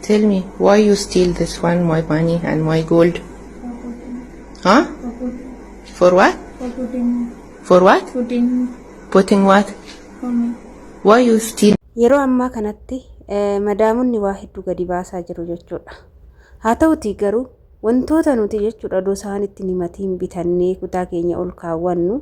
Tell me why you steal this one, my money and my gold. Huh? For what? For what? Putting what? Why you steal? Yeroo ammaa kanatti eh, madaamonni waa hedduu gadi baasaa jiru jechuudha. Haa ta'uti garuu wantoota nuti jechuudha odoo isaan itti himatiin bitannee kutaa keenya ol kaawwannu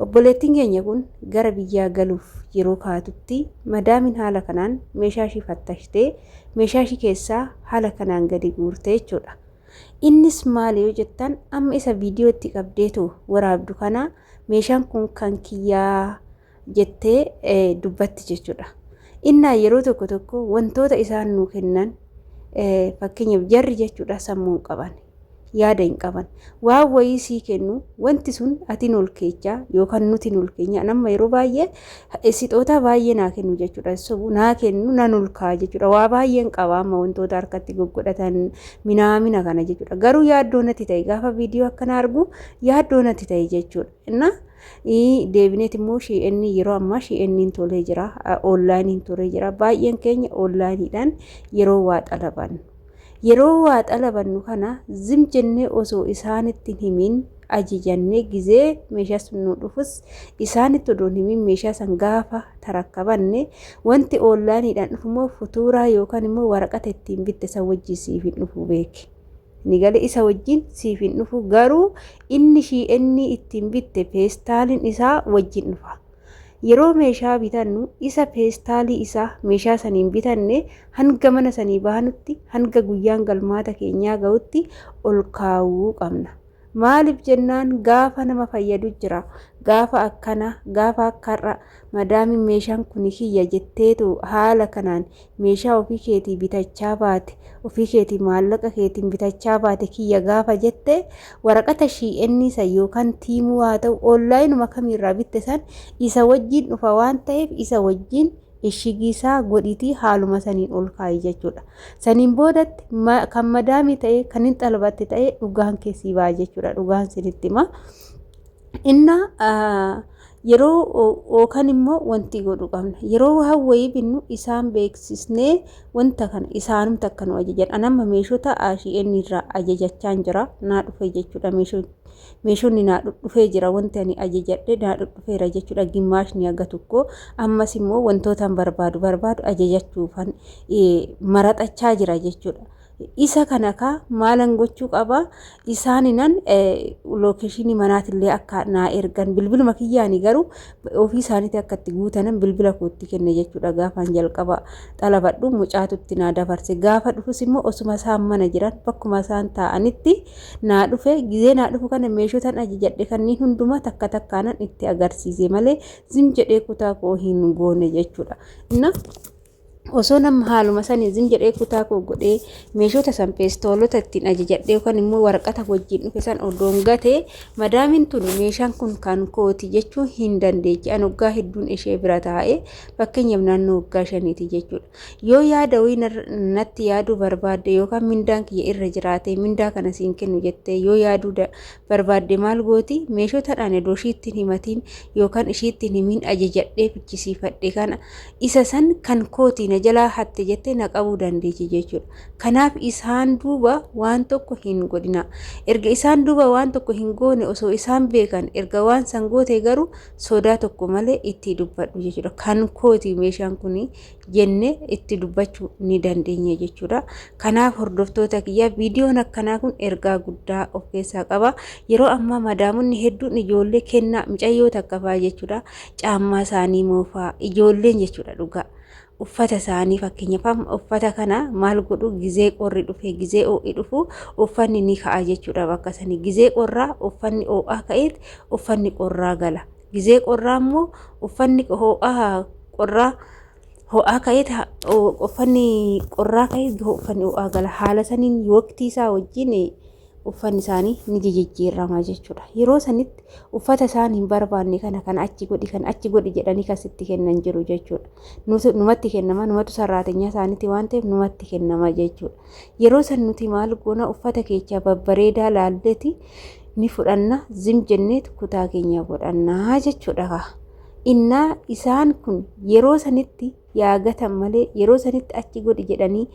Obboleettiin keenya kun gara biyyaa galuuf yeroo kaatutti madaamiin haala kanaan meeshaa ishii fattashtee meeshaa ishii keessaa haala kanaan gadi guurte jechuudha. Innis maali yoo jettan amma isa viidiyoo itti qabdeetu waraabdu kana meeshaan kun kan kiyyaa jettee dubbatti jechuudha. Innaa yeroo tokko tokko wantoota isaan nuu kennan fakkeenyaaf jarri jechuudha sammuun qaban yaada hin qaban. Waan wayii sii kennu wanti sun ati nol keecha yookaan nuti nol keenya nama yeroo baay'ee sixootaa baay'ee naa kennu jechuudha. Sobu naa kennu nan ulkaa jechuudha. Waa baay'een qaba amma wantoota harkatti goggodhatan minaamina kana jechuudha. Garuu yaaddoo natti ta'e gaafa viidiyoo akkana argu yaaddoo natti ta'e jechuudha. Innaa deebineet immoo shi'eenni yeroo ammaa shi'eenniin tolee jira oonlaayiniin tolee jira baay'een keenya oonlaayiniidhaan yeroo waa xalaban. Yeroo waa xalabannu kana zim jennee osoo isaanitti hin himin ajajannee gizee meeshaa sun nuu dhufus isaanitti odoo hin himin meeshaa san gaafa tarakkabanne wanti oonlaayiniidhaan dhufu immoo futuuraa yookaan immoo waraqata ittiin bitte san wajjin siif hin dhufu beeki. Nigale isa wajjin siif hin dhufu garuu inni shii'ennii ittiin bitte feestaalin isaa wajjin dhufa. Yeroo meeshaa bitannu isa peestaalii isaa meeshaa saniin bitanne hanga mana sanii baanutti hanga guyyaan galmaata keenyaa ga'utti ol kaawuu qabna. Maaliif jennaan gaafa nama fayyadu jira. Gaafa akkana gaafa akka har'a madaamiin meeshaan kuni kiyya jetteetu haala kanaan meeshaa ofii keetii bitachaa baate, ofii keetii maallaqa keetiin bitachaa baate kiyya gaafa jette waraqata shii'ennii san yookaan tiimuu haa ta'u oonlaayinuma kamiirraa bitte san isa wajjiin dhufa waan ta'eef isa wajjiin eshigiisaa godhitii haaluma saniin ol kaa'i jechuudha. Saniin boodatti kan madaamii ta'ee kan hin xalbatte ta'ee dhugaan keessii ba'a jechuudha. Dhugaan sinitti hima. Inna Yeroo yookaan immoo wanti godhu qabna. Yeroo waan wayii binnu isaan beeksisnee wanta kana isaanumti akka nu ajajan. Ani amma meeshota ASN irraa ajajachaan jira. Naa dhufee jechuudha meeshoon. Meeshonni naa dhufee jira wanti ani ajajadhe naa dhufeera jechuudha gimmaashni haga tokko. Ammas immoo wantootaan barbaadu barbaadu ajajachuufan maraxachaa jira jechuudha. Isa kana kaa maalan gochuu qaba isaaninan lookeshinii manaatillee akka naa ergan bilbiluma kiyyaani garuu ofii isaaniitii akka itti guutanan bilbila kootti kenne jechuudha gaafaan jalqaba xalabadhu mucaatutti naa dabarse gaafa dhufus immoo osuma isaan mana jiran bakkuma isaan taa'anitti naa dhufe gizee naa dhufu kana meeshotan ajajadhe kanneen hundumaa takka takkaanan itti agarsiise malee zim jedhee kutaa koo hin goone jechuudha. Osoo nama haaluma saniin zim jedhee kutaa koo godhee meeshoota san peestoolota ittiin ajajadhee yookaan immoo waraqata wajjin dhufe san odoon gatee madaamiin tun meeshaan kun kan kooti jechuu hin dandeechi. An waggaa hedduun ishee bira taa'ee fakkeenyaaf naannoo waggaa shaniiti jechuudha. Yoo yaada wayii natti yaaduu barbaadde yookaan mindaan kiyya irra jiraatee mindaa kana siin kennu jettee yoo yaaduu barbaadde maal gooti meeshoota dhaan edoo ishiittiin himatiin yookaan ishiittiin himiin ajajadhee fichisiifadhe kana isa san kan kooti na jalaa hatte jette na qabuu dandeechi jechuudha. Kanaaf isaan duuba waan tokko hin godhina. Erga isaan duuba waan tokko hin goone osoo isaan beekan erga waan san goote garuu sodaa tokko malee itti dubbadhu jechuudha. Kan kooti meeshaan kun jenne itti dubbachuu ni dandeenya jechuudha. Kanaaf hordoftoota kiyyaa viidiyoon akkanaa kun ergaa guddaa of keessaa qaba. Yeroo ammaa madaamonni hedduun ijoollee kennaa micayyoo takka fa'aa jechuudha. caammaa isaanii moofaa ijoolleen jechuudha dhugaa uffata isaanii fakkeenyaaf uffata kana maal godhu gizee qorri dhufe gizee oo'i dhufu uffanni ni ka'a jechuudha bakka sanii gizee qorraa uffanni oo'aa ka'eet uffanni qorraa gala gizee qorraa immoo uffanni hoo'aa qorraa hoo'aa ka'eet uffanni qorraa ka'eet uffanni oo'aa gala haala saniin waqtii isaa wajjin uffanni isaanii ni jijijjiirama jechuudha. Yeroo sanitti uffata isaan hin barbaanne kana kan achi godhi kan achi godhi jedhanii kan sitti kennan jiru jechuudha. Numatti kennama numatu sarraatenyaa isaaniiti waan ta'eef numatti kennama jechuudha. Yeroo san nuti maal goona uffata keechaa babbareedaa laalleeti ni fudhanna zim jenneet kutaa keenya godhannaa jechuudha. Innaa isaan kun yeroo sanitti yaa gatan malee yeroo sanitti achi godhi jedhanii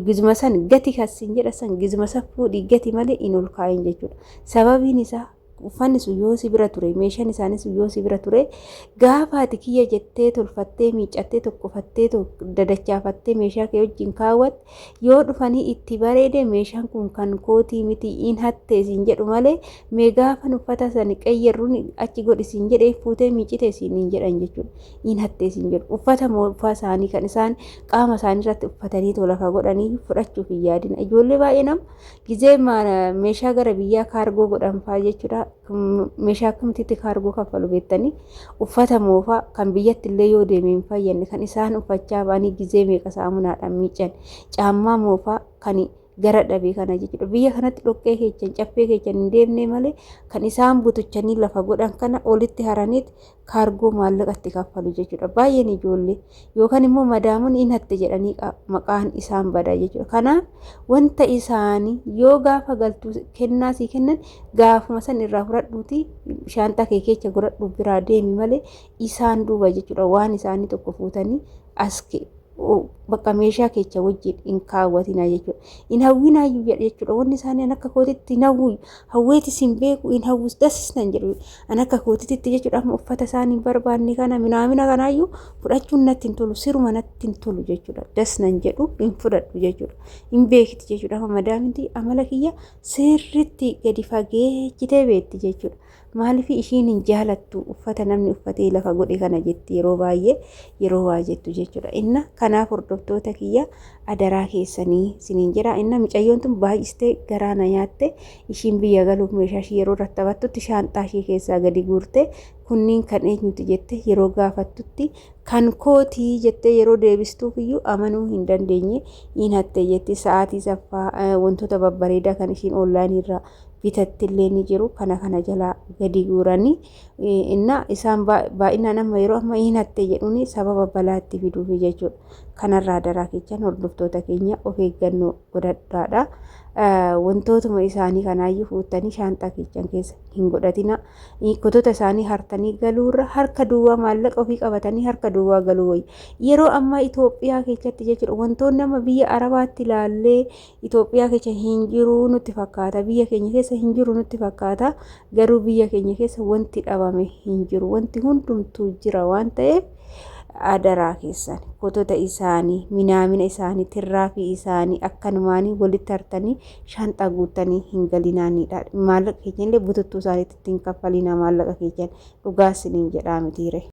gizuma san gati kassin jedha san gizuma san fuudhi gati malee hin ol kaa'in jechuudha. Sababiin isaa uffanni sun yoo si bira ture meeshaan isaanii sun yoo si bira ture gaafa ati kiyya jettee tolfattee miiccattee tokkofattee dadachaafattee meeshaa kee wajjin kaawwatte yoo dhufanii itti bareede meeshaan kun kan kootii miti in hattees hin jedhu malee mee gaafan uffata sani qayyarruun achi godhi siin jedhe fuutee miicite siin hin jedhan jechuudha. Hin hattee siin jedhu. Uffata moofaa isaanii kan isaan qaama isaanii irratti uffatanii too lafa godhanii fudhachuuf hin yaadina. Ijoollee baay'ee nama gizee meeshaa gara biyyaa kaargoo godhan fa'aa jechuudha. Meeshaa akkamitti kaargoo kaffalu beektanii uffata moofaa kan biyyatti illee yoo deeme hin fayyadne kan isaan uffachaa ba'anii gizee meeqa saamunaadhaan miican. Caammaa moofaa kan gara dhabe kana jechuudha. Biyya kanatti dhoqqee keechan caffee keechan hin deemne malee kan isaan butuchanii lafa godhan kana olitti haraniit kaargoo maallaqatti kaffalu jechuudha. Baay'een ijoollee yookaan immoo madaamuun in hatte jedhanii maqaan isaan bada jechuudha. Kanaaf wanta isaanii yoo gaafa galtuu kennaa sii kennan gaafuma san irraa fudhadhuuti shaantaa kee keecha godhadhu biraa deemi malee isaan duuba jechuudha. Waan isaanii tokko fuutanii as bakka meeshaa keecha wajjin hin kaawwatinaa jechuudha. Hin hawwinaayyuu jedha jechuudha. Wanni isaanii an akka kootitti hin hawwu hawweeti sin beeku hin hawwus dasis nan jedhu an akka kootititti jechuudha. Amma uffata isaanii hin barbaanne kana minaamina kanaayyuu fudhachuun natti hin tolu siruma natti hin tolu jechuudha. Das nan jedhu hin fudhadhu jechuudha. Hin beekti jechuudha. Amma madaaminti amala kiyya sirriitti gadi fageechitee beekti jechuudha. Maaliif ishiin hin jaalattu uffata namni uffatee lafa godhe kana jetti yeroo baay'ee yeroo waa jettu jechuudha. Inna kanaaf hordoftoota kiyya adaraa keessanii siniin jedha. Inna micayyoon tun baay'istee garaa na nyaatte ishiin biyya galuuf meeshaa ishii yeroo irratti taphattutti shaanxaa ishii keessaa gadi guurte kunniin kan eenyuti jette yeroo gaafattutti kan kootii jettee yeroo deebistuuf iyyuu amanuu hin dandeenye in hatte jetti sa'aatii saffaa wantoota babbareedaa kan ishiin oonlaayinii irraa bitattillee ni jiru kana kana jalaa gadi guuranii innaa isaan baay'inaan amma yeroo amma hin hatte jedhuun sababa balaatti fiduufi jechuudha. Kanarraa daraa kechan hordoftoota keenya of eeggannoo godhadhaadha. Wantootuma isaanii kanaayyuu fuuttanii shaanxaa kechan keessa hin godhatina. Kotota isaanii hartanii galuurra harka duwwaa maallaqa ofii qabatanii harka duwwaa galuu wayya. Yeroo ammaa Itoophiyaa keessatti jechuudha wantoonni amma biyya Arabaatti ilaallee Itoophiyaa keessa hin jiru nutti fakkaata. Biyya keenya keessa hin jiru nutti fakkaata. Garuu biyya keenya keessa wanti dhabame hin jiru. Wanti hundumtuu jira waan ta'eef adaraa keessan footota isaanii, minaamina isaanii, tirraafii isaanii akkanumaanii walitti hartanii shaanxaa guuttanii hin galinaanidha. Maallaqa keessan illee bututtuu isaaniitti hin kaffalinaa maallaqa keessan dhugaa isiniin jedhaa mitiire.